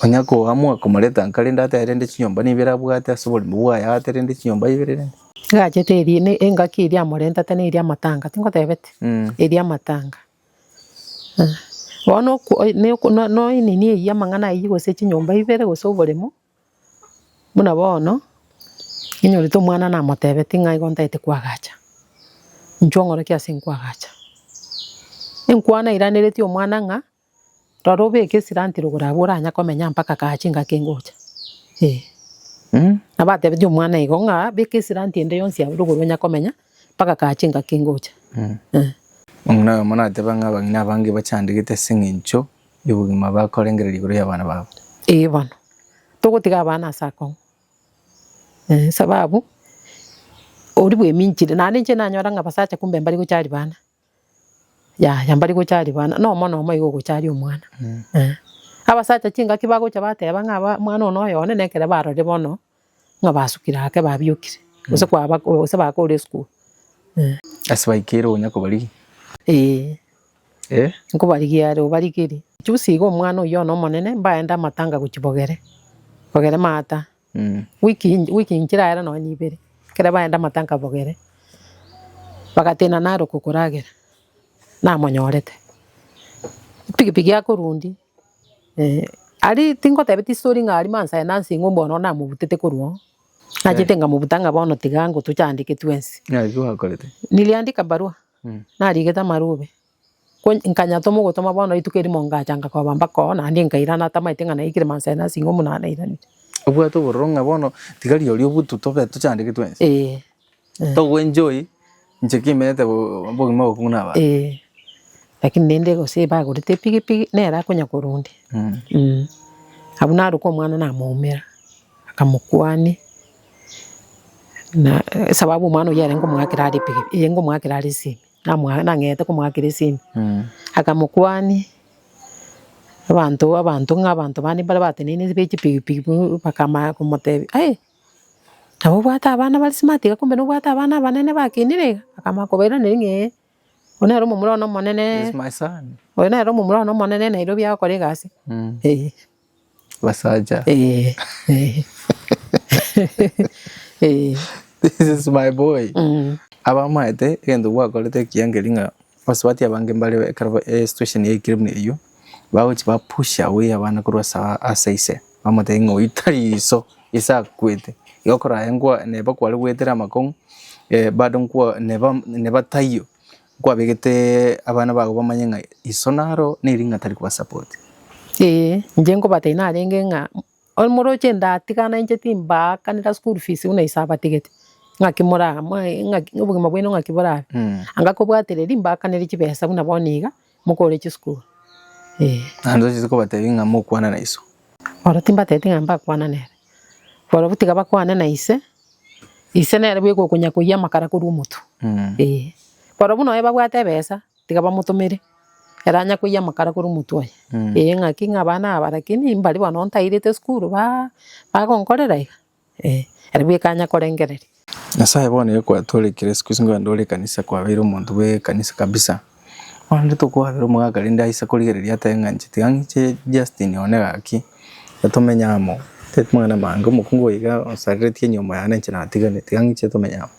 onye koamua komoreta nka rende atebe rende chinyomba na ibere abwate ase oborimo bwaye aate rende chinyomba ibere rende. Egachete eria, ne- engaki eria amorentate neria amatanga, tingotebete? Eria amatanga. Bono oku- oe- ne- oku- no- noe nini eyio amang'ana ayio gose chinyomba ibere gose oboremo. Buna bono, ninyorete omwana namotebetie ng'a igo ntagete koagacha, inchuo nkore ki ase nkoagacha? Enkwana eiraneretie omwana ng'a, rora obeke esiranti rogoro abwo oranya komenya mpaka kare chingaki ngocha, eh. Nabo atebetie omwana igo ng'a beka esiranti ende yonsi abwo rogoro onya komenya mpaka kare chingaki ngocha, eh. Omwana oyomo nateba ng'a abang'ina abange bachandegete aseng'encho y'obogima bakorengereria igoro y'abana babo. Ee bono, togotiga abana ase akong'u, esababu oria bweminchire, naende inche nanyora ng'a abasacha kumbe mbari gocha ribana, yaya mbari gocha ribana, na omono omo igo ogocharia omwana, eh. Abasacha chingaki bagocha bateba ng'a mwana oyo noyone, nekere barore bono Ng'a basukire ake babiokire, gose kwaba gose bakore esukuru eh. Ase baikeire onya kobarigia. Ee. Eh. Nkobarigia are obarigerie. Juzi iga omwana oyio one omonene mbaende amatanga gochia Bogere, Bogere maata. Mm. Week eye week nchire ere nonya ibere, ekero baenda amatanga Bogere, bagateena naroka okoragera, namonyorete. Pikipiki akorundia. Aria tingotebia tistori ng'a aria mansa aye nansa ing'we bono namobutete korwa oo, nachete ngamobuta ng'a bono tiga ango tochandeke twensi. Naki gwakorete? Niliandika barua, narigete amarube, nkanyatoma ogotoma bono rituko erimo ngacha ngakoba mpaka oo naende nkaira natamaete ng'a naikire mansa aye nansa ing'we buna nairanire. Obwate obororo ng'a bono tiga rirorio obutu tobe tochandeke twensi? Ee. Togo enjoy inche kimerete obogima obokungu na abanto. Ee, lakini naende gose bagorete epigipigi nere akonya korunda. Eeh, abwo naroka omwana namoumera, akamokwania, na esababu omwana oyio yarenge omoakera are epigipigi, yarenge omoakera are esimi, namoa nang'eete komoakera esimi, akamokwania, abanto abanto ng'a abanto bande mbare bateneine be chipigipigi bakaamanya komotebia, aye. Nabo obwate abana bare smart iga kumbe nobwate abana abanene bakinire iga, akamanya kobairaneria ng'a eh, oyo nere omomura one omonene, This is my son. oyo nere omomura one omonene Nairobi agokora egasi, eh. Abasacha. Eh, eh. Eh. This is my boy. Mm. Abamaete egento gwakorete ekiya nkeria ng'a Abasubati abange mbario ekero e situation yaikire buna eyio, bagochia ba push away abana korwa ase ase ise, bamotebia ng'a oyio tari iso, ise akwete, igo okoraye nkwa neba kware goetera amakong'u bado nkwa neba neba taiyo, nkwabegete abana bago bamanye ng'a iso naro ne ring'ana tari koba support. Eeh, inche nkobatebi narenge ng'a. Omoroche ndatigana inche timbaakanera school fees buna ise abatigete, ng'aki moraa moe ng'aki obogima bwaino ng'aki borabe. Anga kobwatereri mbaakanere chibesa buna bono iga mokore chisukuru eh. Naende ochiete kobatebi ng'a mokwana na iso. Oro timbatebeti ng'a mbakwana nere, barobwo tiga bakwane na ise, ise nere bweka okonya koyia amakara korwa omotu eh. Barobwo nonya babwate ebesa. Tiga bamotomere, ere anya koiyia amakara korwa omotwe oye. Ee ng'aki ng'a abana aba lakini mbari bono ntairete esukuru ba bagonkorera iga ee, ere bweka anya korengereria. Nyasaye bono iga kwatorekire isiko isiko nonye ore ekanisa kwabeire omonto bwe ekanisa kabisa. Bono rende tokoabera omogaka rende aise korigereria atae ng'a inche tiga ng'iche Justin one gaki, iga tomenye amo, tari mang'ana amange, omokungu oyo iga onsareretie nyomba yane inche natiganete, tiga ng'iche tomenye amo.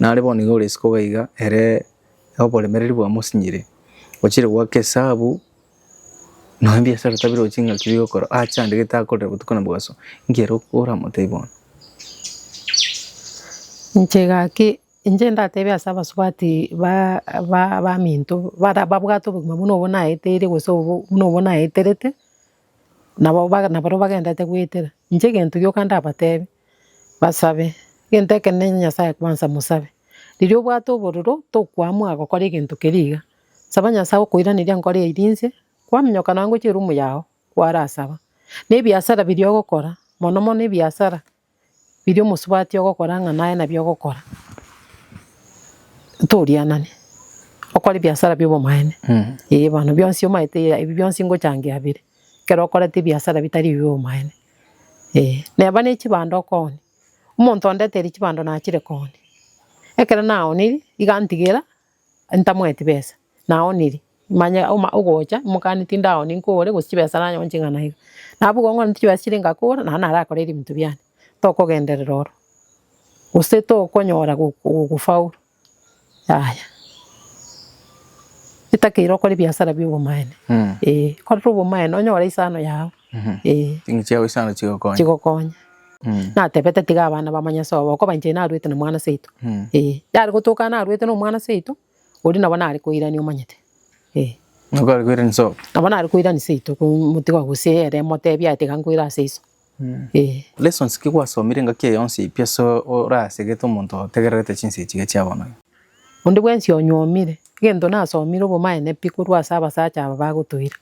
Nare bono iga ore isiko iga iga ere oboremereri bwamosinyire, ochire goaka esabu nonya ebiasara otabire gochia ng'aki biri gokora ache ande gete akorere botuko na mobaso, inki ere oramotebia bono? Inche gaki, inche ndatebe ase abasubati ba- ba- baminto, bara babwate obogima buna obwo naeteire gose obwo buna obwo naeterete, Nabo ba- nabarabwo bagenderete goetera, inche egento gioka ndabatebie, basabe, egento ekenene Nyasaye kwansa mosabe, riria obwate obororo tokoamua gokora egento keria iga, saba Nyasaye okoiraneria nkore eria inse, kwaminyoka nonya gochia eroom yago, kwarasaba, na ebiasara biria ogokora, mono mono ebiasara biria omosubati ogokora ng'a naye nabio ogokora, ntorianane, okore ebiasara bi'obomaene, eh bono bionsi omanyete ebi bionsi ngochangia bire, ekero okorete ebiasara bitari ebi bi'obomaene, eh. Neba ne chibando okoonia, omonto ondeteiri chibando nachire koonia, ekero naoneiri, iga ntigera. Ntamoeti besa, naoniri, manye oma ogocha imokani tindaoni nkore, gose chibesa nanyore nche ing'ana iga. Nabo igo ng'orente chibesa chiria ngakora, nabo narakore ebinto biane. Tokogenderera oro, gose tokonyora go- go- gofaulu, yaya. Etakeire okore ebiasara biobomaene, eh, korera obomaene onyore isano yago. chigokonya. Natebete tiga abana bamanye ase obo, okoba inche narwete na mwana seito. Yare gotoka narwete na omwana seito, oria nabo nare koirania omanyete. Nabo nare koirania seito komotiga gose ere emotebia aye tiga nkoira ase iso. Lessons ki gwasomire engaki eye yonsi pi ase orasegete omonto otegererete chinsa echi iga chia bono? Onde bwensi onyuomire, egento nasomire obomaene pi korwa ase abasacha aba bagotoira.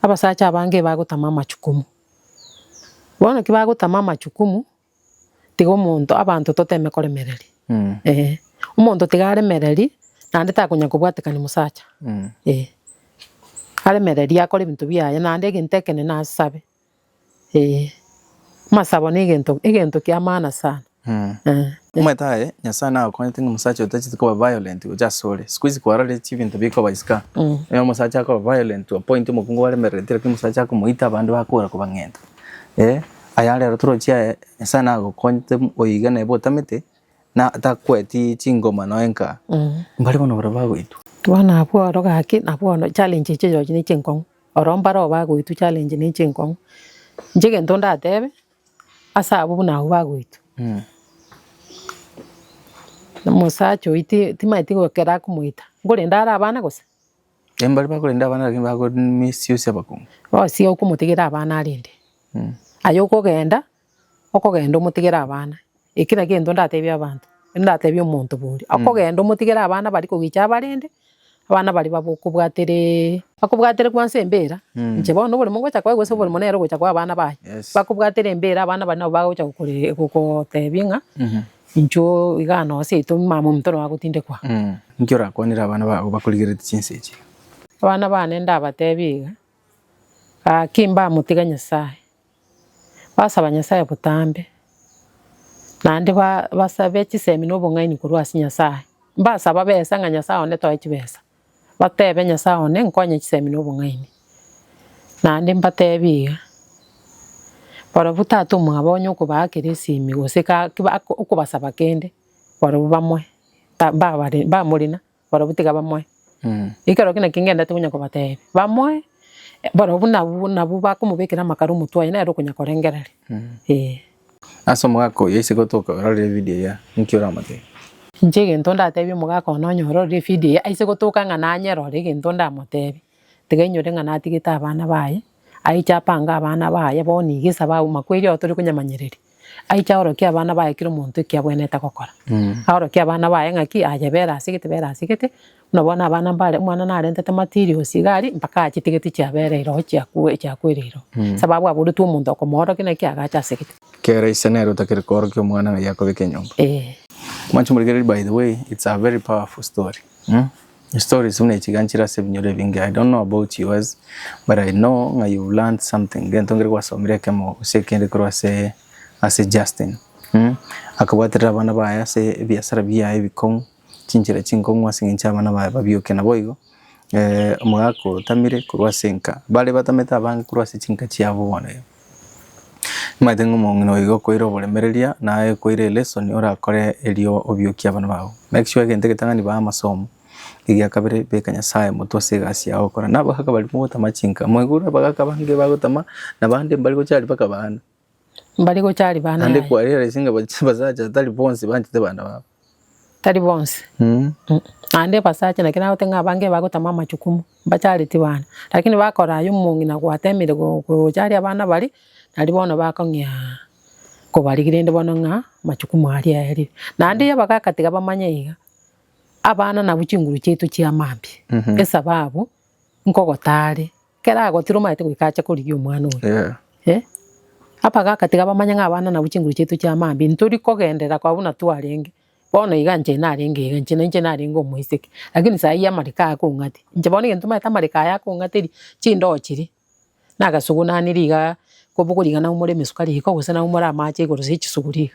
Abasacha abange bagotama amachukumu, bono ki bagotama amachukumu, tiga omonto, abanto toteme koremereria, eh. Omonto tiga aremererie, naende takonya kobwatekania mosacha, eh. Aremererie akore ebinto biaye, naende egento ekenene asabe. Ee, amasabo negento egento kia maana sana Mm. eh. Omanyete aye Nyasaye nagokonyete ng'a omosacha otacheti koba violent gocha ase ore. Siku hizi kwarareti ebinto bikoba isiko. Mm. Onye omosacha akoba violent to a point omokungu obaremerereti lakini omosacha akomoita abande bakora kobang'enta. Eh, aye are aro torochi aye Nyasaye nagokonyete oyo iga neba otamete na takweti chingoma noe nka. Mm. Mbare bono barabwo bagoitwa. Bono abwo oro gaki nabwo bono challenge echiaye chirochio ne chinkong'u. Oro mbareo bagoitwa challenge ne chinkong'u. Inche egento ndatebe, ase abwo buna abwo bagoitwa, omosacha oyio ti- timanyeti igo ekero akomoita, nkorenda are abana gose? Eeh mbari bakorenda abana lakini bako miss use abakong'u. Bosi okomotigera abana arende, aye okogenda Okogenda omotigere abana, ekera gento ndatebie abanto, ndatebie omonto bori, okogenda omotigere abana baria kogecha abarende, abana baria babe okobwateree, bakobwatere bwansi embera, inche bono oboremo ngocha koa gose oboremo nere ogocha koa abana baye, bakobwatere embera abana baria nabo bagocha gokore gogotebia ng'a inchuo igaa noo seito mamomonto noo agotindekwa. Inki orakwanere abana bago bakorigereti chinsa echi? Abana bane ndabatebie iga, gaki mbamotige Nyasaye. basaba Nyasae botambe, naende basabe chisemi na obong'aini korwa ase Nyasae, mbasaba besa ng'a Nyasae one toe chibesa, batebe Nyasae one nkonye chisemi na obong'aini. Naende mbatebie iga, barobwo tata omwabo onye okobaa kera esimi gose okobasaba kende, barobwo bamoe, mbamorina. barobwo tiga bamoe. Ekero ki naki ngendete konya kobateebia, bamoe, barobwo nabwo nabwo bakomobekera amakaro omotwe aye nere okonya korengereria, eh. Ase omogaka oyio ase gotoka ororire evidio eyio, ninki oramoteebie? Inche egento ndateebie omogaka one onye ororire evidio eyio aise gotoka ng'a nanyerore egento ndamoteebie, Tiga inyore ng'a natigete abana baye, aiche apange abana baye bono iga ase abauma kweri oo tore konyamanyereria. Aiche aorokie abana baye kera omonto ekiabwenerete gokora. Aorokie abana baye ng'aki, ayebere ase gete bere ase gete, buna bono abana mbare, omwana narentete materials iga aria, mpaka achitigeti chiabere iro chiakwe chiakwera iro. Sababu aboretwe omonto okomoorokia naki agacha ase gete. Kera ise nere otakire koorokia omwana ng'ai akobeke enyomba. Mwanche morigererie by the way, it's a very powerful story. Stories buna echi iga nchire ase ebinyoro ebinge, I don't know about yours but I know ng'a you've learned something gento nkere gwasomire ekemo gose ekende korwa ase ase Justin. Akabwaterera abana baye ase ebiasara biaye ebikong'u, chinchera chinkong'u ase eng'encho abana baye babioke. Naboigo omogaka otamire korwa ase enka, bare batamete abange korwa ase chinka chiabo bono iga. Nimaete ng'a omong'ina oiga okoira oboremereria na aye okoira elesoni orakore erio obiokie abana bao. Make sure egento egetang'ani baa amasomo. Egia kabere beka Nyasaye motwe ase egasi yago okora. Na abagaka baria mogotama chinka, mwaigure abagaka abange bagotama na bande mbare gocha aria mpaka baana. Mbare gocha aria baana Naende yaya. kware ase ng'a basacha tari bonsi banchete bana babo. Tari bonsi, naende ebasacha naki nagote ng'a abange bagotama amachukumu, mbachareti bana, lakini bakora aya omong'ina gwatemeire go- gocharia abana baria, naria bono bakong'ea kobarigia rende bono ng'a amachukumu aria aerire. Naende ya bagakatiga bamanye iga, abana nabwo chinguru chiaito chi'amambia, esababu. nkogotaare, ekero agotira omanyete goika ache korigia omwana oye. Eh, abagaaka tiga bamanye ng'a abana nabwo chinguru chiaito chia mambia, ntori kogenderera koba buna twarenge, bono iga inche narenge iga, inche na inche narenge omoiseke, lakini saa eyio amariko aya akong'ate, inche bono egento omanyete amariko aya akong'ateria, chindoo chiria. na agasuguna ane rigaa, koboko rigaa nabo more emesuka riko gose nabo more amache igoro ase chisugu riga.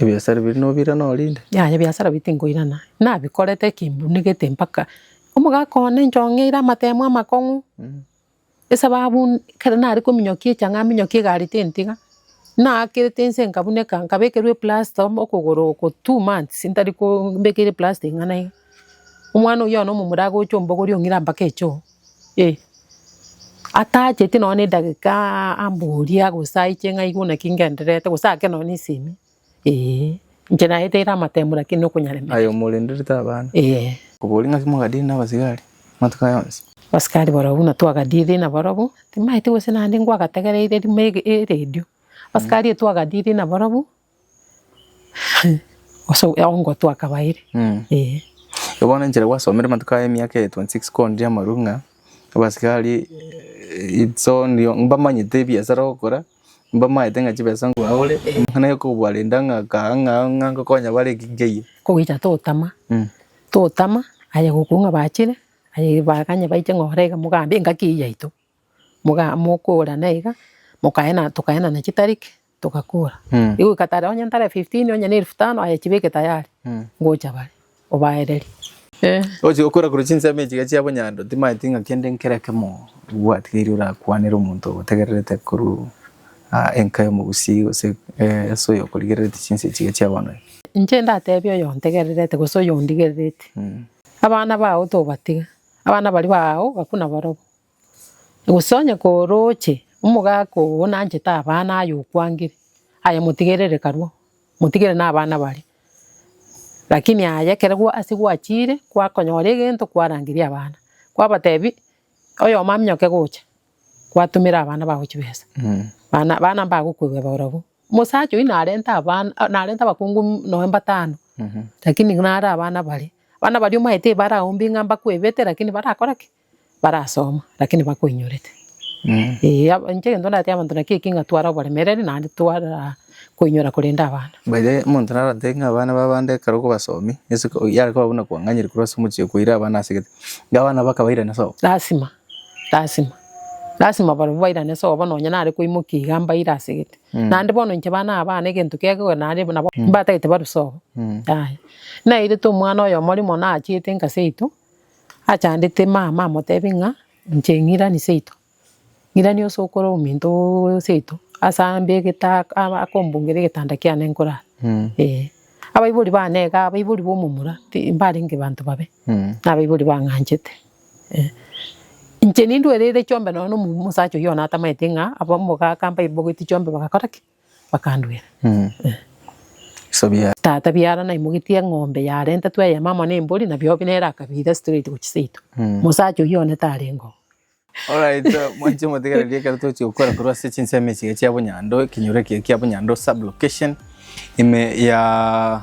Ebiasara biria nobirana orinde? Yaya ebiasara biria tinkoirana, nabikorete kimbunigete mpaka omogaka one inchong'eire amatemo amakong'u, esababu ekero nare kominyokia echang'aa minyokie egari tintiga, naakete inse nkabuneka nkabekerwa eplasta okogoro for two months ntari ko mbekeire eplasta ing'ana iga. Omwana oyio one omomura agocha ombogori ong'ira mpaka echoo, eh. Atacheti nonya na edageka ambori agose aiche ng'a aigwe naki ngendererete gose ake nonya na esemi, eeh. Inche naete ere amatemo lakini na okonyaremerwa. Aye omorenderete abana? Eeh. Oboria ng'aki mwagadire nabasigari amatuko aya onsi? Abasigari barobwo buna twagadire nabarobwo, timaeti gose naende ngwagategereire rimo ege eredio. Abasigari twagadire nabarobwo. Ase ogotoa akabaire ee. Igo bono enchera gwasomire amatuko aya emiaka eye 26 koondia amarwe ng'a abasigari it's only mbamanyete ebiasara ogokora, mbamaete ng'a chibesa mbaure, amang'ana ya kobarenda ng'a kaa ng'a ng'a ngokonya bare ki nkeiyo. Kogocha totama, totama aye gokoigwa bachire, aye baganye baiche ng'a orege mogambi engaki eye yaito. moga mokogora na iga, mokaena tokaenana chitarik, togakora. Egoika tare onye ntare fifteen onye na elfu tano aye chibeke tayari, ngocha bare, obaererie. Eeh. Ogochia gokora korwa chinsemo echi iga chia bonyando, timaeti ng'a kende nkere ekemo obwatigeiri orakwanere omonto ogotegererete korwa aa enka y'omogusii gose eeh ase oyo okorigerereti chinsa echi iga chia bono iga. Inche ndatebie oyo ontegererete gose oyo ondigerereti, abana bao tobatiga, abana baria baao gakuna barobwo. Gose onye korooche omogaka oo nanchete abana aye okwangire, aye motigerere karue, motigere na abana baria, lakini aye ekero ase gwachiire kwakonyora egento kwarangeria abana, kwabatebi oyomo aminyoke gocha, kwatumera abana bago chibesa, bana bana mbagokwegeba ororo, omosacha oyio narente abana narente abakungu nonya mbatano, lakini nare abana baria, abana baria omanyete ebarao mbi ng'a mbakwebete lakini barakore ki? barasoma lakini bakoinyorete. Ee inche egento ndatebie abanto nakio ekio ng'a tware oboremereri naende twara koinyora korende abana. By the way omonto narotebie ng'a abana b'abande ekero okobasomi ase ko yare koba buna kwang'anyire korwa ase omochie koira abana ase gete, iga abana mpaka bairane sobo. Lasima, lasima, lasima barobwo bairane sobo nonye nare koimokia iga mbaire ase gete. Naende bono inche bana aba abana egento kegokora naende nabo mbatagete barwe sobo, yaya. Nairete omwana oyomo rimo nachiete engasi yaito. achandete mama amotebi ng'a inche ng'irani seito, ng'irani ase okore ominto oo seito ase ambe egeta aba akombungera egetanda kiane nkorara eh. Abaibori bane iga abaibori ba omomura ti mbarenge banto babe, na abaibori bang'anchete eh. Inche nindwereire chiombe nonya na omosacha oyio one atamaete ng'a abamogaka mbaibogeti chiombe bagakora ki? Bakandwera, Tata biara naimogetie eng'ombe yarentetwe eyemo amo nembori, na biobi nere akabiira straight gochia seito. Mosacha oyio one tarenge oo. Alright, mwanche motegererie ekero togochia gokora korwa ase chinsemo echiga chia Bonya-ando, ekenyoro ekiya kia Bonya-ando sub-location, ime ya.